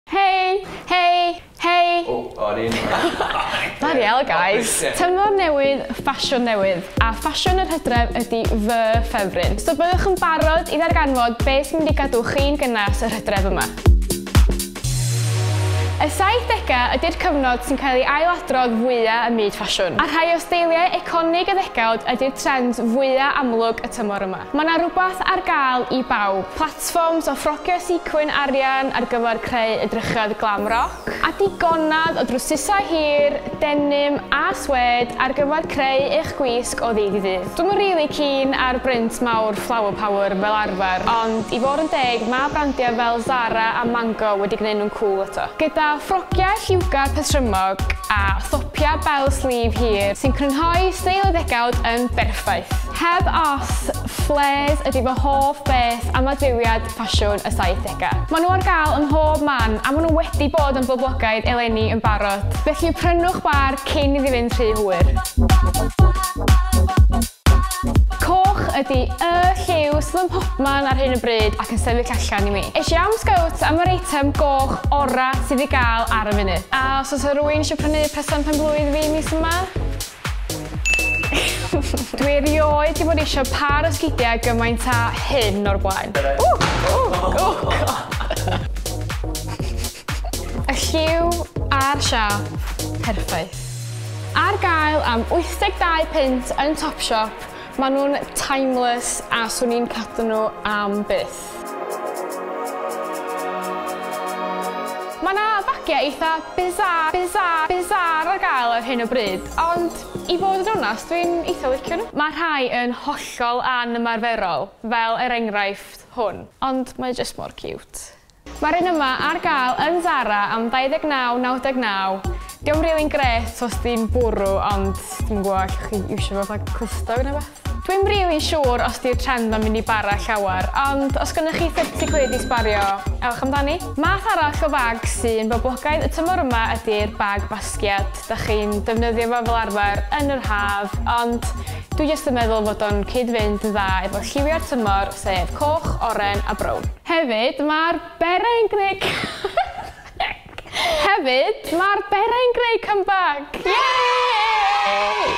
Hei! Hei! Hei! O, o yr un ffordd. Bloody hell guys! Tymor newydd, ffasiwn newydd. A ffasiwn yr hydref ydi fy ffefryn. So byddwch yn barod i ddarganfod be sy'n mynd i gadw chi'n gynnes yr hydref yma. Y 70au ydi'r cyfnod sy'n cael ei ail-adrodd fwya ym myd ffasiwn. A rhai o steiliau eiconig y ddegawd ydi'r trend fwya amlwg y tymor yma. Mae 'na rwbath ar gael i bawb. Sfwms o ffrocio sequin arian ar gyfer creu edrychedd glam roc, a digonedd o drwsysau hir, denim a swêd ar gyfer creu eich gwisg o ddydd i ddydd. Dwi'm yn rili keen ar brint mawr flower power fel arfer, ond i fod yn deg mae brandiau fel Zara a Mango wedi gwneud nhw'n cŵl eto. Gyda ffrogiau lliwgar patrymog a thopiau bell sleeve hir sy'n crynhoi steil y ddegawd yn berffaith. Heb os, Flares ydy fy hoff beth am adfywiad ffasiwn y 70au. Maen nhw ar gael ym mhob man a maen nhw wedi bod yn boblogaidd eleni yn barod. Felly prynwch bâr cyn iddi fynd rhy hwyr. Coch ydy y lliw sydd ym mhobman ar hyn o bryd ac yn sefyll allan i mi. Es i am Scouts am yr eitem goch orau sydd i gael ar y funud. A os oes 'na rywun eisiau prynu presant pen-blwydd fi mis yma? Dwi erioed di bod eisiau par ysgidiau gymaint a hyn o'r blaen. Y lliw a'r siap, perffaith. Ar gael am 82 punt yn Topshop, maen nhw'n timeless a swn i'n cadw nhw am byth. Mae 'na fagiau eitha bizarre, bizarre, bizarre ar gael ar hyn o bryd, ond i fod yn onest, dwi'n eitha licio nhw. Mae rhai yn hollol anymarferol, fel er enghraifft hwn, ond mae jyst mor ciwt. Mae'r un yma ar gael yn Zara am 29.99. Dio'm rili'n grêt os di'n bwrw, ond dwi'm yn gwybod, allwch chi iwsio fo fatha clustog neu rywbeth? Dwi'm rili'n siŵr os 'di'r trend 'ma'n mynd i bara llawer, ond os gynnoch chi 30 quid i sbario, ewch amdani. Math arall o fag sy'n boblogaidd y tymor yma ydi'r bag basgiad. Dach chi'n defnyddio fo fel arfer yn yr haf, ond dwi jyst yn meddwl fod o'n cyd-fynd yn dda efo lliwiau'r tymor, sef coch, oren a brown. Hefyd, ma'r beret yn gneud cân! Hefyd, mae'r berai'n greu comeback! Yay!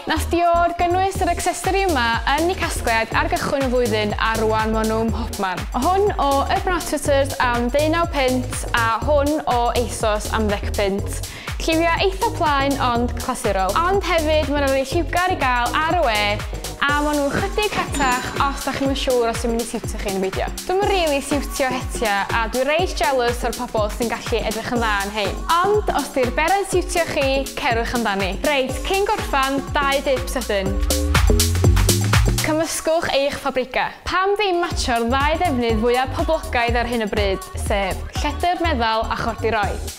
Nath Dior gynnwys yr accessory yma yn eu casgliad ar gychwyn y flwyddyn a rwan ma nhw mhobman. Hwn o Urban Outfitters am ddeunaw punt a hwn o Asos am ddec punt. Lliwiau eitha plaen ond clasurol. Ond hefyd mae 'na rei lliwgar i gael ar y we a maen nhw'n chydig rhatach os dach chi'm yn siŵr os yw'n mynd i siwtio chi neu beidio. Dwi'm yn rili siwtio hetia a dwi reit jealous o'r pobl sy'n gallu edrych yn dda yn rhein. Ond os 'di'r bera'n siwtio chi, cerwch amdani. Reit, cyn gorffan, dau dip sydyn. Cymysgwch eich pabrika. Pam ddim matsio'r ddau ddefnydd fwyaf poblogaidd ar hyn o bryd, sef lledr meddal a chordiroi?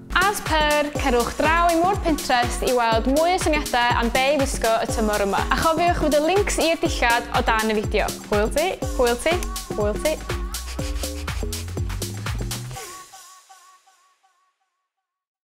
As per, cerwch draw i Mur Pinterest i weld mwy o syniadau am be' i wisgo y tymor yma. A chofiwch fod y links i'r dillad o dan y fideo. Hwyl ti, hwyl ti, hwyl ti.